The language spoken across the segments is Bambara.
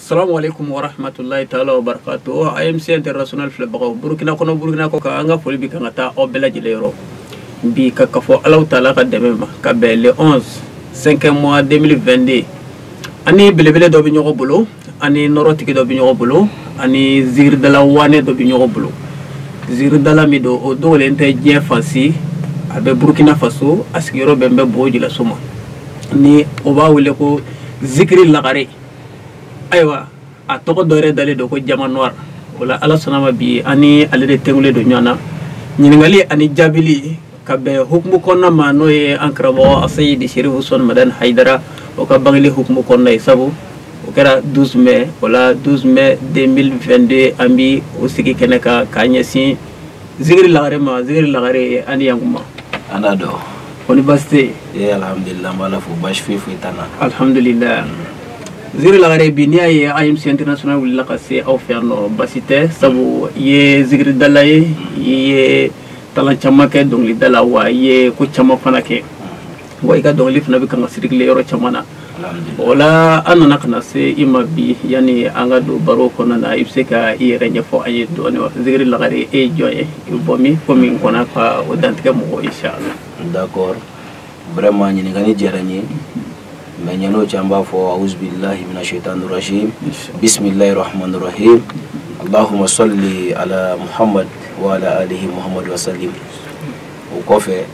salamu alaikum wa rahmatulahi taala wa barakatu o amc international filɛbagaw burukina kɔnɔ burukina kɔ kan an ka foli bi kan ka taa aw bɛɛ lajɛlen yɔrɔ bi ka kafɔ alahu taala ka dɛmɛ ma ka bɛn le 11 5ème mois 2022 an ni belebele dɔ bɛ ɲɔgɔn bolo an ni nɔrɔtigi dɔ bɛ ɲɔgɔn bolo an ni zikiridala waane dɔ bɛ ɲɔgɔn bolo zikiridala min don o dogolen tɛ diɲɛ fan si a bɛ burukina faso a sigiyɔrɔ bɛnnen bɛ bobo jilaso ma ni o b'a wele ko zikiri lagare ayiwa a tɔgɔ dɔ yɛrɛ dalen don ko diamant noir o la ala sɔnna a ma bi an ni ale de tugulen don ɲɔgɔn na ɲininkali ani jaabili ka bɛn hukumu kɔnɔna ma n'o ye an karamɔgɔ asayidi sherifu usman madani hayidara o ka bangeli hukumu kɔnɔna ye sabu o kɛra 12 mai o la 12 mai 2022 an bi o sigi kɛnɛ kan k'a ɲɛsin zikiri lagare ma zikiri lagare ani yankuma an n'a dɔn kɔni baasi tɛ yen ee alhamdulilah n b'ala fo baasi foyi foyi t'an na alhamdulilah zikiri lagare bi n'i y'a ye amc international wulila ka se aw fɛ yan n'o baasi tɛ sabu i ye zikiridala ye i ye talent caman kɛ dɔnkilida la wa i ye ko caman fana kɛ wa i ka dɔnkili fana bɛ kan ka circuler yɔrɔ caman na o la an nana ka na se i ma bi yanni an ka don baro kɔnɔna na i bɛ se ka i yɛrɛ ɲɛfɔ an ye dɔɔni wa zikiri lagare e ye jɔn ye i bɛ bɔ min ko min kɔnɔ ka o dantigɛ mɔgɔ ye inshalah d'accord vraiment ɲininkali diyara n ye mais yann'o cɛ an b'a fɔ auzubilahi mina shaitani rajim bisimilahi rahmani rahim allahuma salli ala muhammad wa ala alihi muhammad wa salim o kɔfɛ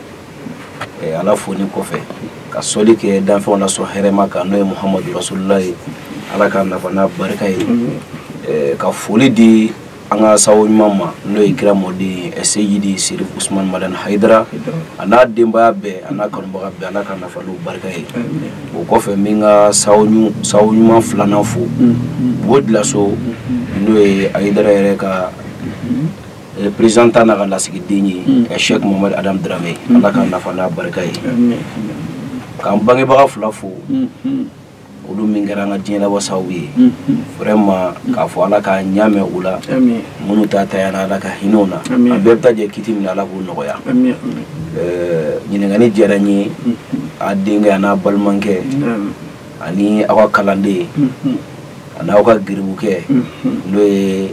eh, ala fonin kɔfɛ ka sɔli kɛ danfɛnw lasɔn hɛrɛma kan n'o ye muhamadu rasulula ye ala k'an nafa n'a barika ye eh, ka foli di an ka sawo ɲuman ma n'o ye kira mɔden ye seyidi sherifu usman madani hayidara a n'a denbaya bɛɛ a n'a kanubaga bɛɛ ala k'an nafa n'u barika ye o kɔfɛ n bɛ n ka sawo ɲuman filanan fo bobo jilaso n'o ye ayidara yɛrɛ ka eh, représentant n'a ka lasigiden ye hmm. eh, cheikh mohamad adam drame hmm. ala k'an nafa n'a barika ye k'an bangebaga fila fo hmm, olu min kɛra an ka diɲɛ labɔ sababu ye vraiment k'a fɔ ala k'a ɲa mɛn u la minnu ta tayana ala ka hinɛ u na an bɛɛ bɛ taa jɛ kiti min ala k'o nɔgɔya eh, ɲininkali diyara n ye a denkɛ a n'a balimakɛ ani aw ka kalanden a n'aw ka garibukɛ n'o ye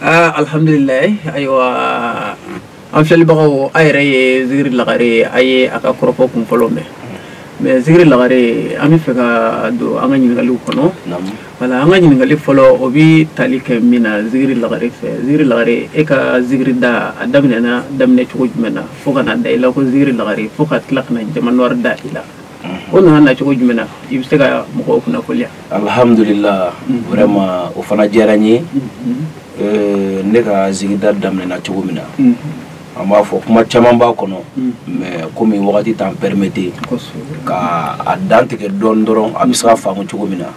Ah, alhamdulillah ayiwa an filɛlibagaw a yɛrɛ ye zikiri lagare a ye a ka kɔrɔfɔ kun fɔlɔ mɛn mais zikiri lagare an b'a fɛ ka don an ka ɲininkaliw kɔnɔ wala an ka ɲininkali fɔlɔ o bɛ tali kɛ min na zikiri lagare fɛ zikiri lagare e ka zikiri da a daminɛna daminɛ cogo jumɛn na fo ka na da i la ko zikiri lagare fo ka tila ka na diamant noir da i la o nana na cogo jumɛn na i bɛ se ka mɔgɔw kunnafoniya alihamudulila vraiment o fana diyara n ye ne ka zikirida daminɛna cogo min na an b'a fɔ kuma caman b'a kɔnɔ mais comme wagati t'an permettre ka a dantigɛ dɔɔnin dɔrɔn a bɛ se ka faamu cogo min na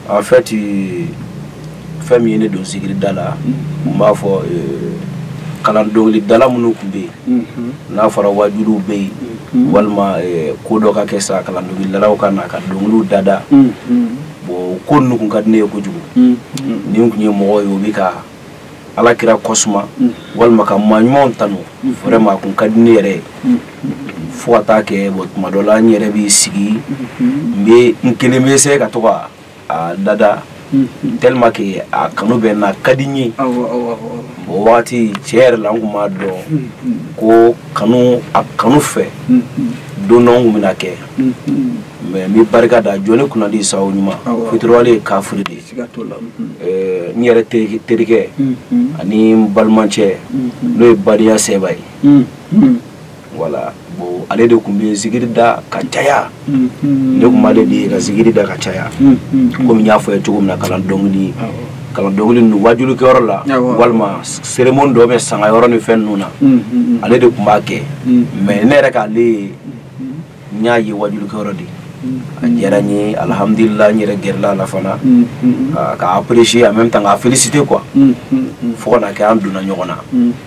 en fait fɛn min ye ne don zikirida la n b'a fɔ euh, kalan dɔnkilidala minnu tun bɛ yen n'a fɔra wajuliw bɛ yen mhm. walima euh, ko dɔ ka kɛ sa kalan dɔnkilidalaw ka na ka dɔnkiliw dada mhm. bon ko ninnu kun ka di ne ye kojugu mhm. ni n tun ye mɔgɔ ye o bɛ ka ala kira kɔsuma mm. walima ka maa ɲumanw tanu mm. vraiment a kun ka di ne yɛrɛ ye mm. fo ka taa kɛ bon tuma dɔ la n yɛrɛ b'i sigi n bɛ n kelen bɛ se ka to ka a dada tellement que a kanu bɛ n na a ka di n ye o wagati tiɲɛ yɛrɛ la n kun m'a dɔn ko kanu a kanu fɛ don dɔ n kun bɛna a kɛ mais n bɛ barika da jɔn kunnandi sabu ɲuman fitiriwale ye kafiri de ye n yɛrɛ terikɛ ani n balimacɛ n'o ye badenya sɛba ye voilà bon ale de tun bɛ zikiri da ka caya ne tun b'ale de ye ka zikiri da ka caya comme n y'a fɔ i ye cogo min na kalan dɔnkili kalan dɔnkili ninnu wajulikɛyɔrɔ la walima cérémonie dɔ bɛ sanga yɔrɔ ni fɛn ninnu na ale de tun b'a kɛ mais ne yɛrɛ k'ale ye n y'a ye wajulikɛyɔrɔ de a diyara n ye alhamdulila n yɛrɛ gɛrɛla a la fana k'a apprécier en même temps k'a féliciter quoi fo ka na kɛ an donna ɲɔgɔn na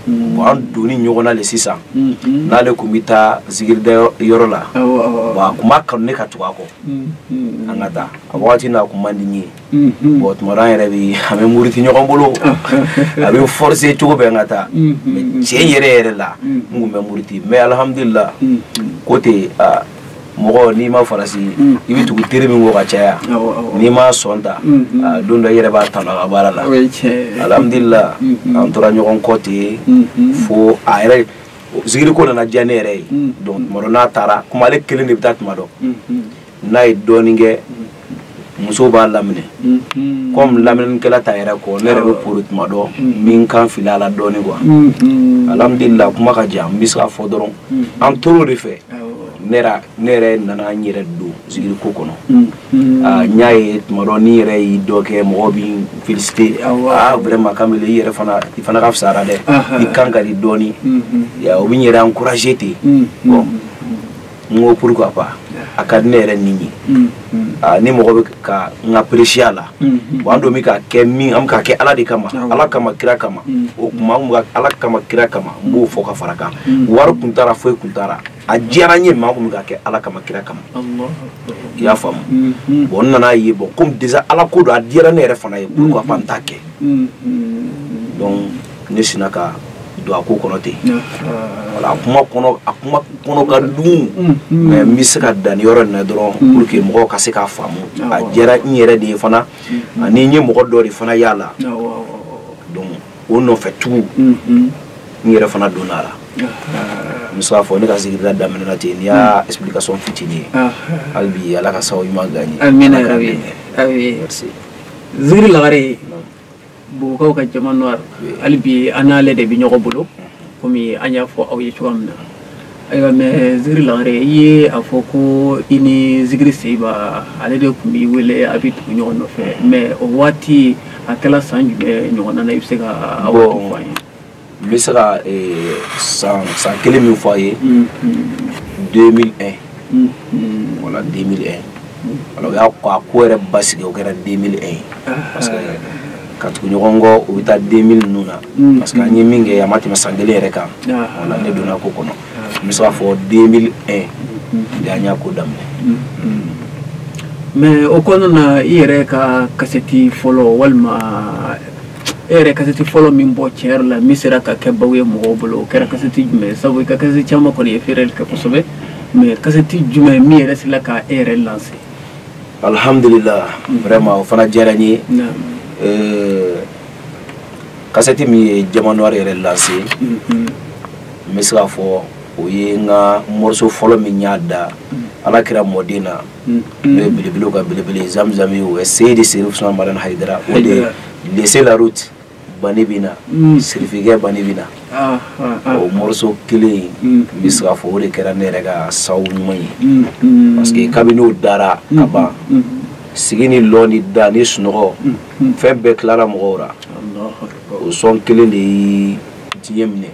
bon an donni ɲɔgɔn na le sisan n'ale tun bɛ taa zikirida yɔrɔ la bon a tun b'a kanu ne ka tugu a kɔ an ka taa a wagati na a tun man di n ye Mhm. bon tuma dɔ an yɛrɛ bɛ an bɛ muruti ɲɔgɔn bolo a bɛ n forcer cogo bɛɛ n ka taa mhm, mais mhm. tiɲɛ yɛrɛ yɛrɛ la n tun bɛ muruti mais alhamdulillah ko ten aa mɔgɔ n'i ma farati i bɛ tugu teri min kɔ ka caya n'i m'a son ta don dɔ i yɛrɛ b'a tanu a ka baara la alhamdulillah an tora ɲɔgɔn kɔ ten fo a yɛrɛ zikiri ko nana diya ne yɛrɛ ye donc tuma dɔ n'a taara comme ale kelen de bɛ taa tuma dɔ n'a ye dɔɔnin kɛ musow b'a laminɛ comme laminɛkɛla t'a yɛrɛ kɔ ne yɛrɛ bɛ boli tuma dɔ n bɛ n kan fili a la dɔɔnin quoi alamidulila kuma ka jan n bɛ se k'a fɔ dɔrɔn an tora o de fɛ ne yɛrɛ nana n yɛrɛ don zikiri ko kɔnɔ n y'a ye tuma dɔ ni n yɛrɛ ye dɔ kɛ mɔgɔw bɛ n féliciter vraiment kan i yɛrɛ fana i fana ka fisa a la dɛ i kan ka di dɔɔnin o bɛ n yɛrɛ encourager ten n ko pourquoi pas a ka di ne yɛrɛ ni ye mm, mm. ah, ni mɔgɔ bɛ ka n ka peresiya la mm, bon an dun bɛ ka kɛ min an bɛ ka kɛ ala de kama ah ala kama kira kama o tuma an bɛ ala kama kira kama n b'o fɔ ka fara kan wari kun t'a ra foyi kun t'a ra a diyara n ye maa kun bɛ ka kɛ ala kama kira kama i y'a faamu mm-hmm. bon n nana ye bon komi déjà ala ko don a diyara ne yɛrɛ fana ye pourquoi pas n t'a kɛ mm-hmm. donc ne sinna ka don a ko kɔnɔ ten voilà a kuma kɔnɔ a kuma kɔnɔ ka dun mm, mm. mais n bɛ se ka dan nin yɔrɔ nin na dɔrɔn mm. pour que mɔgɔw ka se k'a faamu a diyara n yɛrɛ de ye fana ani n ye mɔgɔ dɔ de fana y'a la donc o nɔfɛ tugu n yɛrɛ fana donna a la n bɛ se k'a fɔ ne ka zikirida daminɛna ten nin y'a explication fitinin ye hali bi ala ka sababu ɲuman gan ye. amina rabi awi zikiri lagare. bugukaw ka jamanwari hali bi an n'ale de bɛ ɲɔgɔn bolo komi an y'a fɔ aw ye cogoya min na ayiwa mais zikiri lagare i ye a fɔ ko i ni zikiri seyiba ale de tun b'i wele a bɛ tugu ɲɔgɔn nɔfɛ mais o waati a kɛla san jumɛn ɲɔgɔnna na i bɛ se ka o fɔ an ye n bɛ se ka eh, san san kelen min fɔ a ye 2001 voilà 2001 alors o y'a ko a ko yɛrɛ basigi o kɛra 2001 ye parce que ka tugu ɲɔgɔn kɔ o bɛ taa 2000 ninnu na parce que an ye min kɛ a ma tɛmɛ san kelen yɛrɛ kan voilà ne donna ko kɔnɔ n bɛ se k'a fɔ 2001 de an y'a ko daminɛ. mais o kɔnɔna na i yɛrɛ ka kasɛti fɔlɔ walima e yɛrɛ kasɛti fɔlɔ min bɔ tiɲɛ yɛrɛ la min sera ka kɛ baw ye mɔgɔw bolo o kɛra kasɛti jumɛn ye sabu i ka kasɛti caman kɔni ye feereli kɛ kosɛbɛ mais kasɛti jumɛn min yɛrɛ sela ka e yɛrɛ lanse alhamdulillah mm. vraiment o fana diyara n ye euh, kasɛti min ye jamanwari yɛrɛ lanse mm-hmm. n bɛ se k'a fɔ o ye n ka mɔriso fɔlɔ min n y'a da mm. ala kira mɔden na n'o ye belebelew ka belebele ye zamzam ye o ye seyidi serif usman madan hayidara o de ye laissez la route bani bɛ na sirifikɛ bani bɛ na o mɔriso kelen in n bɛ se k'a fɔ o de kɛra ne yɛrɛ ka sabu ɲuman ye parce que kabini o dara ka ban sigi ni lɔ ni da ni sunɔgɔ fɛn bɛɛ tilara mɔgɔw la o son kelen de ye diɲɛ minɛ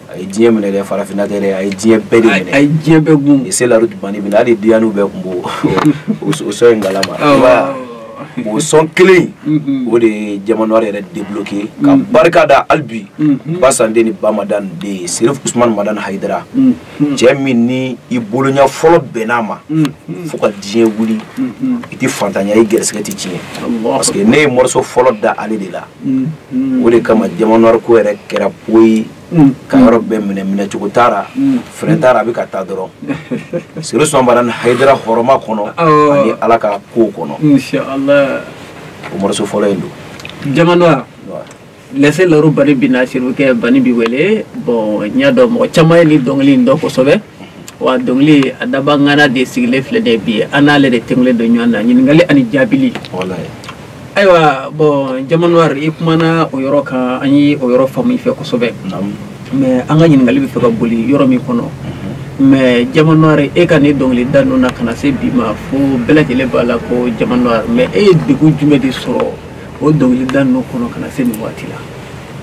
a ye diɲɛ minɛ dɛ farafinna tɛ dɛ a ye diɲɛ bɛɛ de minɛ a ye diɲɛ bɛɛ gun laissez la route bani bɛ na hali diyaniw bɛɛ kun b'o o son in kalama o son kelen mm-hmm. o de ye jamanwari yɛrɛ debloke ka mm-hmm. barika da hali bi mm-hmm. basan den ni bamadan den ye serif usman madan hayidara cɛ min ni i bolonya fɔlɔ bɛnn'a ma fo ka diɲɛ wuli i tɛ fantanya i gɛrɛsɛgɛ tɛ tiɲɛ parce que ne ye mɔriso fɔlɔ da ale de la o de kama Diamant Noir ko yɛrɛ kɛra poyi ka yɔrɔ bɛɛ minɛ minɛcogo taara fɛrɛ taara a bɛ ka taa dɔrɔn Serifu Usumani Madani Hayidara hɔrɔma kɔnɔ ani ala ka ko kɔnɔ o morceau fɔlɔ in don Diamant Noir lɛse laro bani bi na siri kɛ bani bi wele bɔn n y'a dɔn mɔgɔ caman ye ni dɔnkili in dɔn kosɛbɛ wa dɔnkili a dabaga ŋana de sigilen filɛ nin ye bi an n'ale de tugulen don ɲɔgɔn na ɲininkali ani jaabili ayiwa bɔn Diamant Noir i kumana o yɔrɔ kan an ye o yɔrɔ faamu i fɛ kosɛbɛ mais an ka ɲininkali bɛ fɛ ka boli yɔrɔ min kɔnɔ mais Diamant Noir e ka nin dɔnkili da ninnu na ka na se bi ma fo bɛɛ lajɛlen b'a la ko Diamant Noir mais e ye degun jumɛn de sɔrɔ o dɔnkili da ninnu kɔnɔ ka na se nin waati la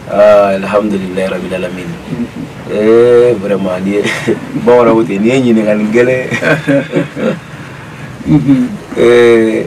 Ah, alhamdulilayi rabil alamin ee eh, vraiment nin ye bamananw ten nin ye ɲininkali gɛlɛn ee eh,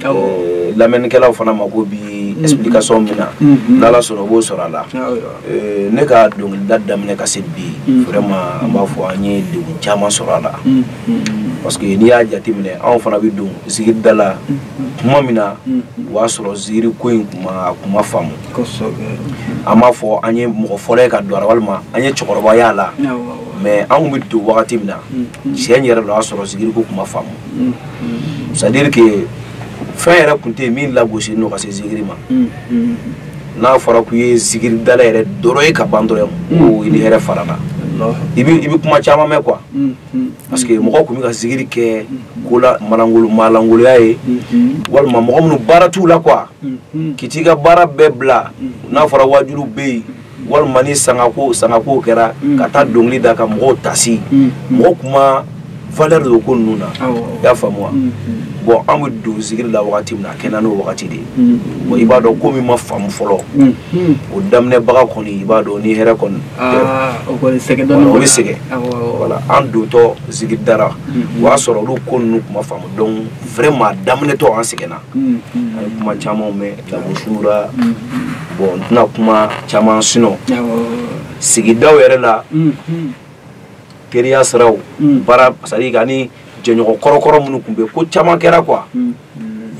Eh, lamɛnnikɛlaw fana mako bɛ mm-hmm. explication min na mm-hmm. n'ala sɔnna u b'o sɔrɔ a la eh, ne ka dɔnkilida daminɛ ka se bi mm-hmm. vraiment an b'a fɔ an ye degun caman sɔrɔ a la parce que n'i y'a jateminɛ anw fana bɛ don zikiri da la kuma min na o y'a sɔrɔ zikiri ko in kun ma a kun ma faamu an b'a fɔ an ye mɔgɔ fɔlɔ ye ka don a la walima an ye cɛkɔrɔba y'a la mais an kun bɛ don wagati min na tiɲɛ yɛrɛ la o y'a sɔrɔ zikiri ko kun ma faamu c'est à dire que fɛn yɛrɛ tun tɛ yen min lagosilen ka se zikiri ma n'a fɔra k'u ye zikiridala yɛrɛ dɔrɔn ye ka ban dɔrɔn ko i ni hɛrɛ farala i bɛ kuma caman mɛn quoi parce que mɔgɔ tun bɛ ka zikiri kɛ ko la maa lankolon maa lankolonya ye walima mɔgɔ minnu baara t'u la quoi k'i t'i ka baara bɛɛ bila n'a fɔra wajuliw bɛ yen walima ni sangako sangako kɛra mm. ka taa dɔnkili da ka mɔgɔw tasi mm. mɔgɔ kun ma valeur di ko ninnu na i y'a faamu wa mm. bɔn an bɛ don zikiri la wagati min na a kɛɲɛ n'o wagati de ye bɔn i b'a dɔn ko min ma faamu fɔlɔ o daminɛbaga kɔni i b'a dɔn ni hɛrɛ kɔni ah, o bɛ sɛgɛn voilà an dontɔ zikiri da la o y'a sɔrɔ olu ko ninnu kun ma faamu donc vraiment a daminɛtɔ an sɛgɛnna an ye kuma camanw mɛn lagosira bɔn n tɛna kuma caman sɔrɔ sigidaw yɛrɛ la teriya siraw baara sadi ka ni jɛɲɔgɔn kɔrɔkɔrɔ minnu tun bɛ ko caman kɛra quoi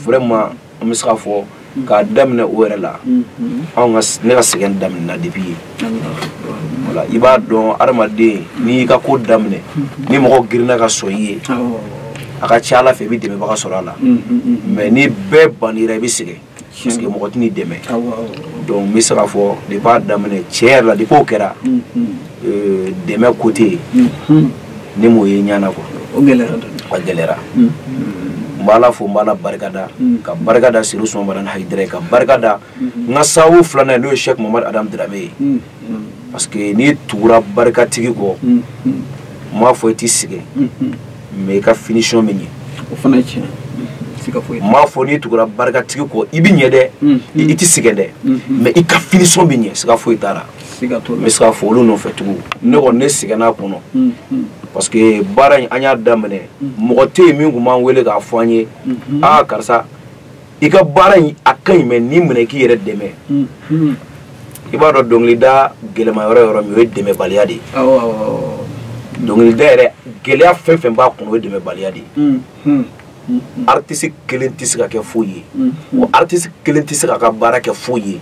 vraiment n bɛ se ka fɔ k'a daminɛ o yɛrɛ la ne ka sɛgɛn daminɛna depuis yen I b'a dɔn adamaden n'i ka ko daminɛ ni mɔgɔ girinna ka sɔn i ye a ka ca a la fɛ i bɛ dɛmɛbaga sɔrɔ a la mais ni bɛɛ ban i bɛ sigi sigi mɔgɔ tɛ'i dɛmɛ donc n bɛ se k'a fɔ de b'a daminɛ cɛ yɛrɛ la de k'o kɛra dɛmɛ côté yen ni mɔgɔ ye ɲ kɔ gɛlɛyayara n b' fo n bɛ barika da ka barika da siri sɔnba hadu ka barika da n ka sababu filanan ye n'o ye sɛki mamadu adama darame ye parce que n'i tugura barikatigi kɔ n m'a fɔ i tɛ sɛgɛn mais i ka finition bɛ ɲɛ o fana ye tiɲɛ n m'a fɔ n'i tugura barikatigi kɔ i bɛ ɲɛ dɛ i tɛ sɛgɛn dɛ mais i ka finition bɛ ɲɛ siga foyi t'a la n bɛ se ka fɔ olu nɔfɛ tugun ne kɔni ne sɛgɛnna a kɔnɔ parce que baara in an y'a daminɛ mɔgɔ tɛ yen min tun b'an wele k'a fɔ an ye aa karisa i ka baara in a ka ɲi mais nin minɛ i k'i yɛrɛ dɛmɛ i b'a dɔn dɔnkilida gɛlɛman yɔrɔ yɔrɔ min o ye dɛmɛbaliya de ye dɔnkilida yɛrɛ gɛlɛya fɛn fɛn b'a kɔnɔ o ye dɛmɛbaliya de ye artiste kelen tɛ se ka kɛ foyi ye wa artiste kelen tɛ se k'a ka baara kɛ foyi ye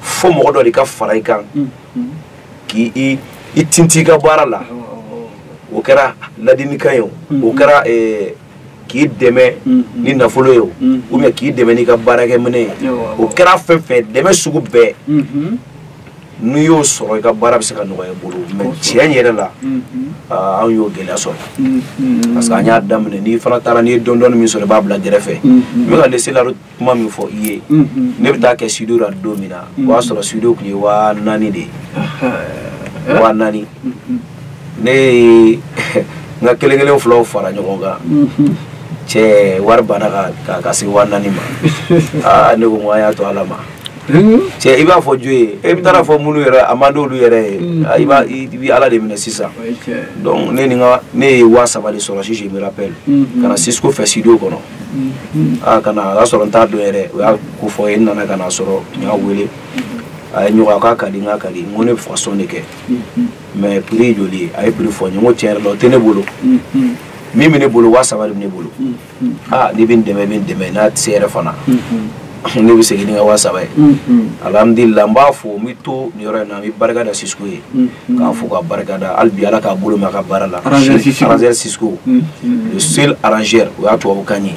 fo mɔgɔ dɔ de ka fara i kan k'i i tinti i ka baara la o kɛra ladilikan ye o o kɛra k'i dɛmɛ mm, mm. ni nafolo ye o mm, ou bien k'i dɛmɛ n'i ka baarakɛminɛn ye o kɛra fɛn fɛn dɛmɛ sugu bɛɛ mm-hmm. n'i y'o sɔrɔ i ka baara bɛ se ka nɔgɔya i bolo mais tiɲɛ yɛrɛ la mm-hmm. ah, anw y'o gɛlɛya sɔrɔ mm-hmm. parce que an y'a daminɛ n'i fana taara n'i ye dɔɔni dɔɔni min sɔrɔ i b'a bila gɛrɛfɛ n bɛ ka laisser la kuma min fɔ i ye ne bɛ taa kɛ studio la don min na o y'a sɔrɔ studio tun ye waa naani de ye waa naani ne ye n ka kelen kelen filaw fara ɲɔgɔn kan cɛ wari banna ka ka se waa naani ma aa ne ko n ko an y'a to ala ma cɛ i b'a fɔ jɔn ye e bɛ taa a fɔ minnu yɛrɛ a man d'olu yɛrɛ ye i b'a i bɛ ala de minɛ sisan donc ne ni n ka ne ye waa saba de sɔrɔ si je me rappelle ka na Cisco fɛ studio kɔnɔ aa kana a y'a sɔrɔ n t'a dɔn yɛrɛ o y'a ko fɔ n ye n nana ka na sɔrɔ n y'a wele a ye ɲɔgɔn k'a ka di n k'a ka di n ko ne b'a fɛ ka son de kɛ mais prix ye joli ye a ye prix fɔ n ye n ko tiɲɛ yɛrɛ la o tɛ ne bolo min bɛ ne bolo waa saba de bɛ ne bolo aa n'i bɛ n dɛmɛ i bɛ n dɛmɛ n'a tɛ se yɛrɛ fana ne bɛ segin ni n ka waa saba ye alhamdulilah an b'a fɔ n bɛ to nin yɔrɔ in na n bɛ barika da Cisco ye k'a fɔ ka barika da hali bi ala k'a bolo ma ka baara la arrangeur Cisco c'est l'arrangeur o y'a tubabukan ye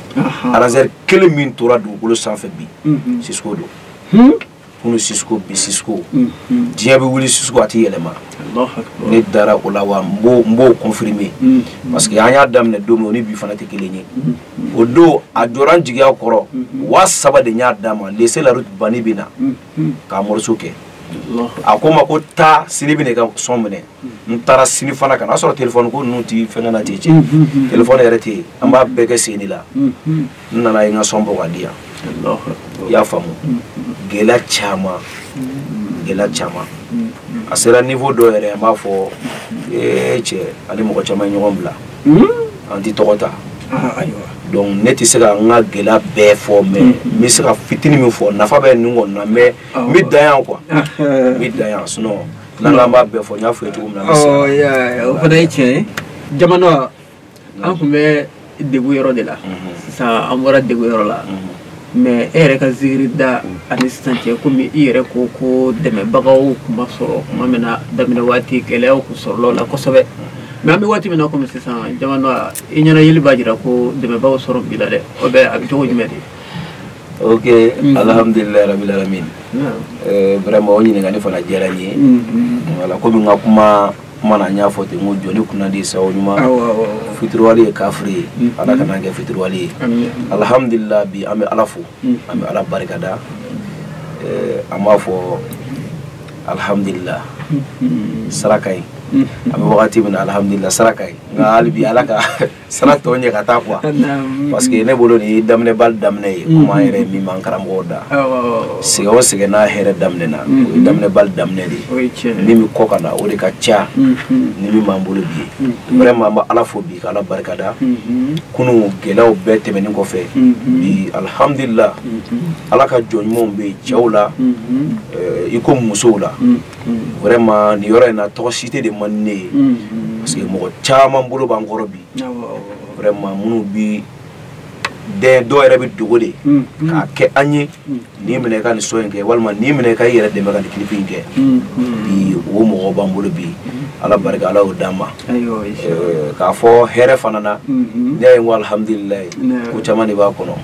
arrangeur kelen min tora dugukolo sanfɛ bi Cisco don minnu si bi si diɲɛ bɛ wuli su a tɛ yɛlɛma ne dara o la wa n b'o confirmer parce que an y'a daminɛ don min o ni bi fana tɛ kelen ye o don a jɔra n jigiya kɔrɔ waa saba de y'a d'a ma laisser la route bani bɛ na k'a morceau kɛ a ko n ma ko taa sini i bɛ na i ka son minɛ n taara sini fana ka na a sɔrɔ telefɔni ko ninnu tɛ fɛnkɛ na ten cɛ telefɔni yɛrɛ tɛ yen an b'a bɛɛ kɛ sen de la n nana a ye n ka son bɔ k'a di yan i y'a faamu gɛlɛya caman gɛlɛya caman a sera niveau dɔ yɛrɛ n b'a fɔ ee cɛ an ni mɔgɔ caman ye ɲɔgɔn bila an tɛ tɔgɔ ta donc ne tɛ se ka n ka gɛlɛya bɛɛ fɔ mais n bɛ se ka fitini min fɔ nafa bɛ nin kɔni na mais n bɛ dan yan quoi n bɛ dan yan sinon n'an k'an b'a bɛɛ fɔ n y'a fɔ i ye cogo min na. o fana ye tiɲɛ ye jamana an tun bɛ degun yɔrɔ de la sisan an bɔra degun yɔrɔ la. mais e yɛrɛ ka zikiri da ani sisan cɛ komi i yɛrɛ ko ko dɛmɛbagaw tun ma sɔrɔ tuma min na daminɛ waati gɛlɛyaw tun sɔrɔla la kosɛbɛ mais an bɛ waati min na komi sisan jamana i ɲɛna yeli b'a jira ko dɛmɛbagaw sɔrɔ b'i la dɛ o bɛ a bɛ cogo jumɛn de ok mm-hmm. alhamdulilayi rabil alamin vraiment o ɲininkali fana diyara n ye mm-hmm. voilà komi n ka kuma kuma na n y'a fɔ ten n ko jɔn kunnandi sababu ɲuman fitiriwale ye kafiri ye mm. ala kana an kɛ fitiriwale ye alihamudulila bi an bɛ ala fo mm. an bɛ ala barika da eh, an b'a fɔ alihamudulila mm. sira ka jɛ an bɛ wagati min na alihamudulila sira ka jɛ nka hali bi ala ka sira tɔ jɛ ka taa quoi parce que ne bolo nin daminɛbali daminɛ ye kuma yɛrɛ min b'an karamɔgɔw da sɛgɛn o sɛgɛn n'a hɛrɛ daminɛna o ye daminɛbali daminɛ de ye min bɛ kɔ ka na o de ka ca ni min b'an bolo bi ye vraiment an bɛ ala fo bi ka ala barika da kunu gɛlɛyaw bɛɛ tɛmɛnen kɔfɛ bi alhamdulila ala ka jɔn ɲumanw bɛ yen cɛw la i ko musow la vraiment nin yɔrɔ in na tɔgɔ citer de man di ne ye parce que mɔgɔ caman bolo b'an kɔrɔ bi vraiment minnu bi den dɔw yɛrɛ b'i dogo de k'a kɛ an ye nin minɛ i ka nin son in kɛ walima nin minɛ i ka i yɛrɛ dɛmɛ ka nin clip in kɛ bi o mɔgɔ b'an bolo bi ala barika ala y'o d'an ma k'a fɔ hɛrɛ fana na ne ye ko alihamdulilayi ko caman de b'a kɔnɔ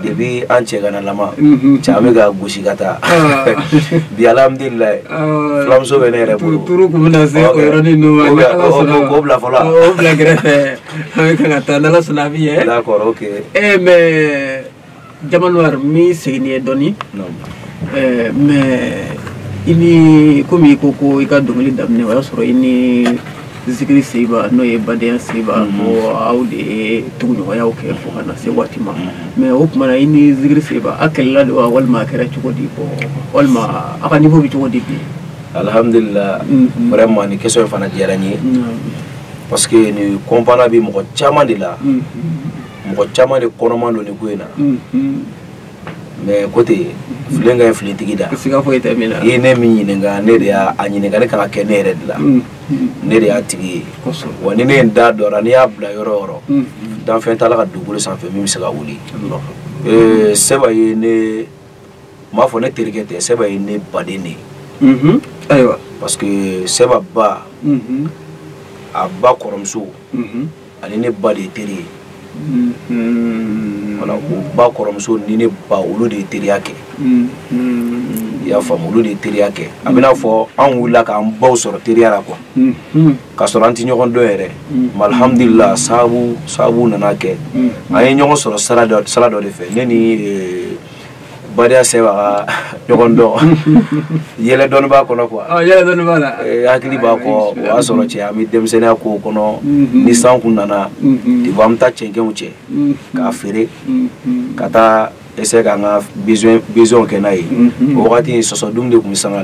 de bɛ an cɛ kana lama ca bɛ ka gosi ka taa bi alhamdulilayi filamuso bɛ ne yɛrɛ bolo ko bila fɔlɔ bila kɛrɛfɛ an ka taa ala sɔnna a bɛ ye kɔrɔ mɛ jamanwari n bɛ segin n'i ye dɔɔni eh, mais i ni komi i ko ko i ka dɔnkili daminɛ o y'a sɔrɔ i ni zikiri seiba n'o ye badenya seiba mhm. ko aw de ye tuguɲɔgɔnyaw kɛ fo ka na se waati ma mhm. mais o tuma na i ni zikiri seiba aw kɛlɛla de wa walima a kɛra cogo di bɔ walima aw ka niveau bɛ cogo di bi alhamdulillah mhm. vraiment nin question fana diyara n ye parce que nin kunpa bɛ mɔgɔ caman de la mɔgɔ caman de kɔnɔma don nin ko in na mais ko ten filen ka ye filitigi da i ye ne min ɲininka ne de y'a ɲininka ne ka kɛ ne yɛrɛ de la ne de y'a tigi ye wa ni ne ye n da dɔra n'i y'a bila yɔrɔ yɔrɔ danfɛn t'a la ka dugukolo sanfɛ min bɛ se ka wuli seiba ye ne n b'a fɔ ne terikɛ tɛ seiba ye ne baden de ye ayiwa parce que seiba ba a ba kɔrɔmuso ani ne ba de ye teri ye wala o ba kɔrɔmuso ni ne ba olu de ye teriya kɛ i y'a faamu olu de ye teriya kɛ a bɛna fɔ an wulila k'an baw sɔrɔ teriya la quoi k'a sɔrɔ an tɛ ɲɔgɔn dɔn yɛrɛ alihamudulila sababu sababu nana kɛ an ye ɲɔgɔn sɔrɔ sira dɔ de fɛ ne ni badenya sɛba ka ɲɔgɔn dɔn yɛlɛ dɔɔni b'a kɔnɔ quoi hakili b'a kɔ o y'a sɔrɔ cɛ an bɛ denmisɛnninya ko kɔnɔ mm-hmm. ni san kun nana mm-hmm. an bɛ taa cɛncɛnw cɛ mm-hmm. k'a feere ka taa essayer k'an ka besoin kɛ n'a ye o wagati sɔsɔdun de tun bɛ sanga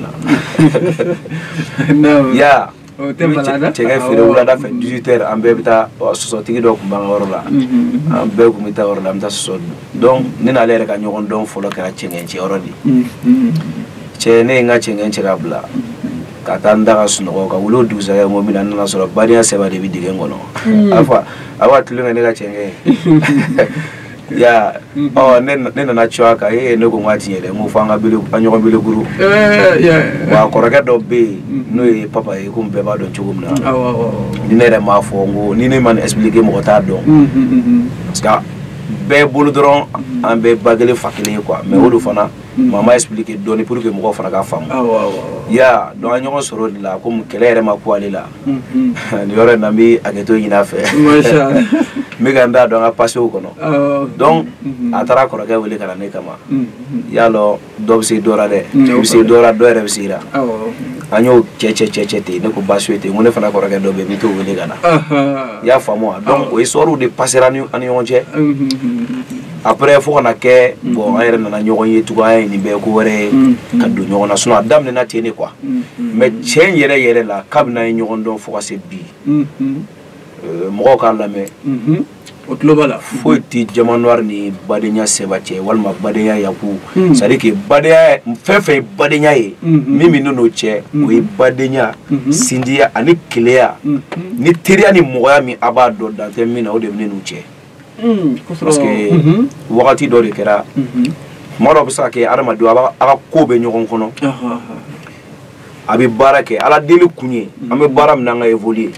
na ya o tɛ bala dɛ cɛngɛn feere wulada fɛ 18 heures an bɛɛ bɛ taa sɔsɔtigi dɔ tun b'an ka yɔrɔ la an bɛɛ tun bɛ taa yɔrɔ la an bɛ taa sɔsɔ dun donc ne n'ale yɛrɛ ka ɲɔgɔn dɔn fɔlɔ kɛra cɛngɛn cɛ yɔrɔ de cɛ ne ye n ka cɛngɛn cɛ ka bila ka taa n da ka sunɔgɔ ka wuli o dugusajɛ sɔgɔma na n nana sɔrɔ badenya sɛba de bɛ dingɛ kɔnɔ a fa a b'a tulonkɛ ne ka cɛngɛn ye ya mhm. ɔ ne nana cun a kan ee ne ko n ka tiɲɛ dɛ n ko fo an ka bele an ɲɔgɔn bele guru wa kɔrɔkɛ dɔ bɛ yen mhm. n'o ye papa ye komi bɛɛ b'a dɔn cogo min na ni ne yɛrɛ m'a fɔ n ko ni ne ma nin expliquer mɔgɔ t'a dɔn mhm, parce que bɛɛ bolo dɔrɔn an bɛɛ ba kelen fa kelen ye quoi mais o de fana n b'a expliquer dɔɔni pour que mɔgɔw fana k'a faamuya donc an ɲɔgɔn sɔrɔ o de la komi kɛlɛ yɛrɛ ma kun ale la nin yɔrɔ in na n bɛ hakɛto ɲini a fɛ n bɛ ka n da don an ka pasew kɔnɔ donc a taara kɔrɔkɛ wele ka na ne kama i y'a dɔn dɔ bɛ se dɔ la dɛ i bɛ se dɔ la dɔ yɛrɛ bɛ se i la an y'o cɛ cɛ cɛ cɛ ten ne ko baasi tɛ n ko ne fana kɔrɔkɛ dɔ bɛ yen n bɛ t'o wele ka na i y'a faamu wa donc o histoirew de pasera an ni ɲɔgɔn cɛ a après fo ka na kɛ mm. bon an yɛrɛ nana ɲɔgɔn ye tugun an ye nin bɛɛ ko wɛrɛ ye mm. ka mm. don ɲɔgɔn na sinon a daminɛna ten de quoi mais tiɲɛ yɛrɛ yɛrɛ la kabini an ye ɲɔgɔn dɔn fo ka se bi euh, mɔgɔw k'a lamɛn mm-hmm. u tulo b'a la foyi tɛ jama noir ni badenya sɛba cɛ walima badenya yaku c'est à dire que badenya fɛn fɛn ye badenya ye mm-hmm. min bɛ n n'u cɛ mm-hmm. o ye badenya sinjiya ani kelenya ni teriya ni mɔgɔya min a b'a dɔn dan tɛ min na o de bɛ ne n'u cɛ Hmm, parce que mhm. wagati dɔ de kɛra mhm. tuma dɔ bɛ se ka kɛ adamaden a ka ko bɛ ɲɔgɔn kɔnɔ a bɛ baara kɛ ala deli kun ye an bɛ baara min na an ka évoluer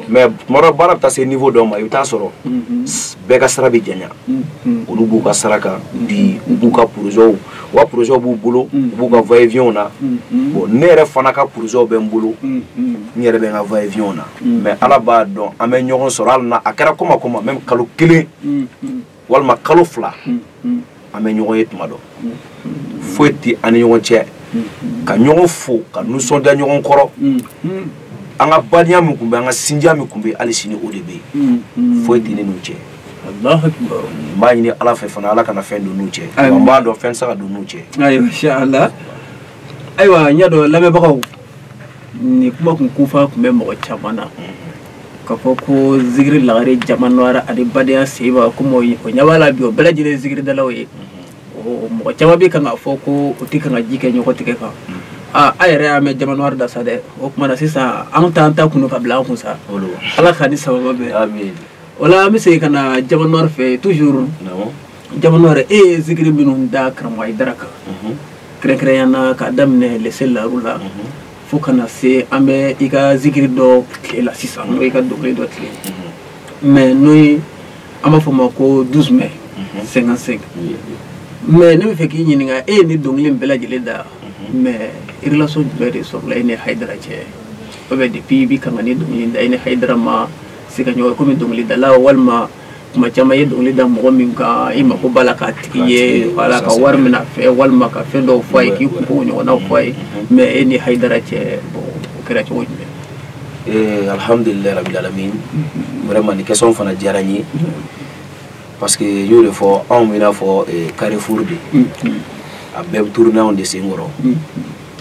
mais tuma dɔ baara bɛ taa se niveau dɔ ma i bɛ taa sɔrɔ bɛɛ ka sira bɛ janya olu b'u ka sira kan bi u b'u ka porozɛw u ka porozɛw b'u bolo u b'u ka vayeviyɛnw na bon ne yɛrɛ fana ka porozɛw bɛ n bolo n yɛrɛ bɛ n ka vayeviyɛnw na mɛ ala b'a dɔn an bɛ ɲɔgɔn sɔrɔ hali n'a kɛra koma koma mɛ kalo kelen walima kalo fila an bɛ ɲɔgɔn ye tuma dɔ foyi tɛ an ni ɲɔgɔn cɛ ka ɲɔgɔn fo ka nisɔndiya ɲɔgɔn kɔrɔ an ka badenya min tun bɛ an ka sinja min tun bɛ hali sini o de bɛ yen foyi tɛ ne n'u cɛ n b'a ɲini ala fɛ fana ala kana fɛn don n'u cɛ n b'a dɔn fɛn tɛ se ka don n'u cɛ ayiwa ayiwa n y'a dɔn lamɛnbagaw nin kuma kun kunfa tun bɛ mɔgɔ caman na k'a fɔ ko zigiri lagare diamant noir ani badenya seba komi o ɲɛ b'a la bi o bɛɛ lajɛlen zigiridalaw ye mɔgɔ caman bɛ kan k'a fɔ ko u tɛ kan ka ji kɛ ɲɔgɔn tigɛ kan a yɛrɛ y'a mɛn diamant noir da sa dɛ o tuma na sisan an t'an ta kun ka bila an kun sa ala k'a ni sababa bɛɛ o la an bɛ segin ka na diamant noir fɛ toujours diamant noir e ye zikiri minnu da karamɔgɔ ayidara kan mhm. kɛrɛnkɛrɛnya na k'a daminɛ lese laru la mhm. fo ka na se an bɛ i ka zikiri dɔ tile la sisan n'o i ka dɔnkili dɔ tile mhm. mɛ n'o ye an b'a fɔ a ma ko 12 mai 55 mɛ ne b'a fɛ k'i ɲininka e ye nin dɔnkili bɛɛ lajɛlen da mɛ relation jumɛn de sɔrɔla e ni hayidara cɛ o bɛ depuis i bɛ kan ka nin dɔnkili da i ni hayidara ma se ka ɲɔgɔn komi dɔnkilidala walima kuma caman ye dɔnkili da mɔgɔ min kan i mako b'a la k'a tigi ye wala ka wari minɛ a fɛ walima ka fɛn dɔw fɔ a ye k'i kunko ɲɔgɔnnaw fɔ a ye mɛ e ni hayidara cɛ o kɛra cogo jumɛn eh, alhamdulilayi rabil alamin vraiment nin question fana diyara n ye parce que n y'o de fɔ anw bɛ i n'a fɔ eh, carrefour de a bɛɛ bɛ tourner anw de sen kɔrɔ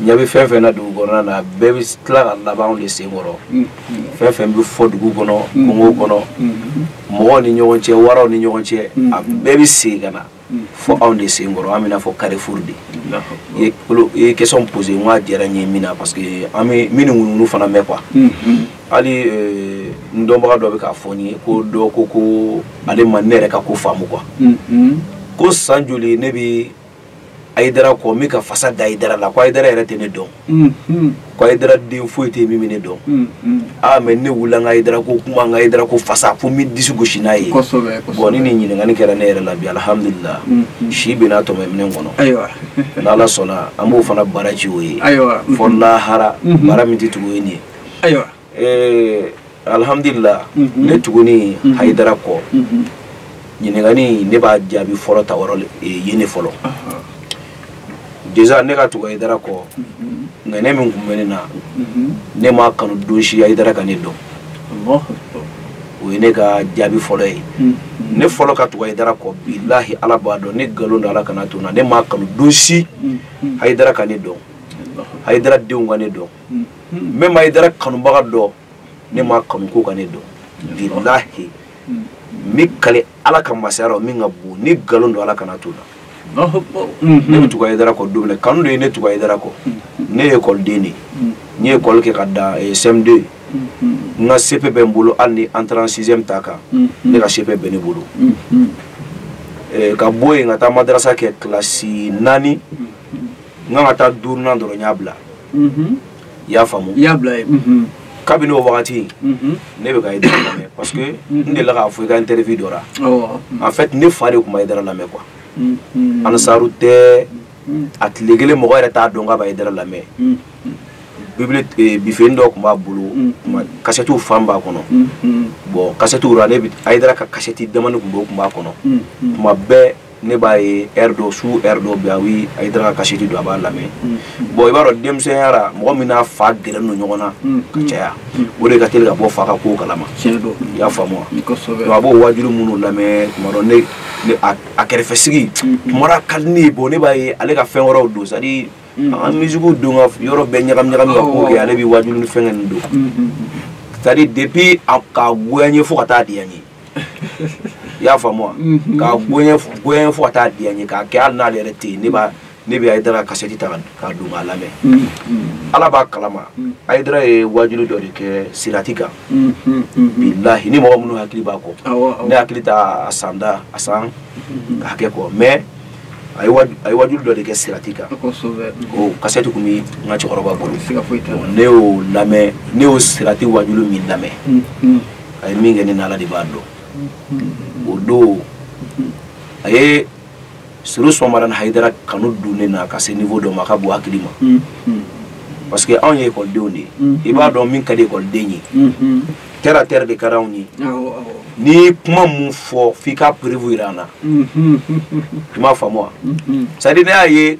ɲɛ bɛ fɛn fɛn na dugu kɔnɔna na bɛɛ bɛ tila ka laban anw de sen kɔrɔ mm, mm. fɛn fɛn bɛ fɔ dugu kɔnɔ mm, kungow kɔnɔ mɔgɔw ni ɲɔgɔn cɛ waraw ni ɲɔgɔn cɛ a bɛɛ bɛ segin ka na fɔ anw de sen kɔrɔ an bɛ i n'a fɔ carrefour de i ye question poser n k'a diyara n ye min na parce que an bɛ min ni ŋunuŋunu fana mɛn quoi hali euh, n dɔnbaga dɔ bɛ k'a fɔ n ye ko dɔ ko ko ale ma ne yɛrɛ ka ko faamu quoi ko san joli ne bɛ ayidara kɔ n bɛ ka fasa da ayidara la ko ayidara yɛrɛ tɛ ne dɔn mm-hmm. ko ayidara den foyi tɛ min bɛ ne dɔn mm-hmm. aa mɛ ne wulila n ka ayidara ko kuma n ka ayidara ko fasa fo n bɛ disi gosi n'a ye bɔn ni nin ɲininkali kɛra ne yɛrɛ la bi alihamudulila mm-hmm. si bɛna tɔmɛ minɛn kɔnɔ n'ala sɔnna an b'o fana bara ci o ye fo lahara bara min tɛ tugu o ye nin ye eh, alhamdulillah mhm. ne tuguni mhm. hayidara kɔ mhm. ɲininkali ne b'a jaabi fɔlɔ ta yɔrɔ eh, ye ne fɔlɔ déjà ne ka tugu hayidara kɔ ŋaniya min tun bɛ ne na ne m'a kanu don si hayidara ka ne dɔn o ye ne ka jaabi fɔlɔ ye ne fɔlɔ ka tugu hayidara kɔ bilahi ala b'a dɔn ni nkalon don ala kana to n na ne m'a kanu don si hayidara ka ne dɔn hayidara denw ka ne dɔn même ayidara kanubaga dɔ ne m'a kanu k'o ka ne dɔn bilahi n bɛ kali ala ka masaya la min ka bon ni nkalon don ala kana to la ne bɛ tugu ayidara kɔ don min na kanu de ye ne tugu ayidara kɔ ne ye ekɔliden de ye n ye ekɔli kɛ ka dan eh, cm2 n ka cep bɛ n bolo hali ni entrée sixième t'a kan ne ka cep bɛ ne bolo Eh, ka bɔ yen ka taa madarasa kɛ kilasi naani n kan ka taa duurunan dɔrɔn n y'a bila mhm. i y'a faamu i y'a bila ye mhm. kabini o wagati mhm. ne bɛ ka ayidara lamɛn parce que n delila k'a fɔ n ka interview dɔ la en fait ne fa de tun bɛ ayidara lamɛn quoi ansaru tɛ a tile kelen mɔgɔ yɛrɛ t'a dɔn k'a bɛ ayidara lamɛn bibili eh, bifeni dɔ tun b'a bolo kasɛtiw fan b'a kɔnɔ bɔn kasɛtiw ra ne ayidara ka kasɛti damani tun b'o tun b'a kɔnɔ tuma bɛɛ ne b'a ye heure dɔ su heure dɔ bɛ a wi ayidara ka kasɛti don a b'a lamɛn bɔn i b'a dɔn denmisɛnya la mɔgɔ min n'a fa gɛrɛlen don ɲɔgɔn na ka caya o de ka teli ka bɔ fa ka kow kalama i y'a faamu wa donc a b'o waajuli minnu lamɛn tuma dɔ ne ne a a kɛrɛfɛ sigi tuma dɔ a ka di ne ye bɔn ne b'a fɛ ale ka fɛn wɛrɛw don c'est à dire an ka misikiw don ka yɔrɔ bɛɛ ɲagami ɲagami ka kow kɛ ale bɛ waajuli ni fɛnkɛ ninnu don c'est à dire depuis a ka goya n ye fo ka taa diya n ye i y'a faamu wa mhm. ka goya n ye fo ka taa diya n ye k'a kɛ hali n'ale yɛrɛ tɛ yen ne b'a ne bɛ ayidara kasɛti ta ka don k'a lamɛn mhm. ala b'a kalama mhm. ayidara ye waajuli dɔ de kɛ sirati kan bilahi ni mɔgɔ minnu hakili b'a kɔ ne hakili t'a a san da a san ka hakɛ kɔ mais a ye waajuli dɔ de kɛ sirati kan o kasɛti tun bɛ n ka cɛkɔrɔba bolo ne y'o lamɛn ne y'o sirati waajuli min lamɛn a ye min kɛ ne na ala de b'a dɔn o don a ye serifu usumani madani hayidara kanu don ne na ka se niveau dɔ ma a ka bon hakili ma parce que anw ye ekɔlidenw de ye i b'a dɔn min ka di ekɔliden ye terre à terre de ka di anw ye n'i ye kuma min fɔ f'i ka preuve jira an na i m'a faamu wa c'est à dire ne y'a ye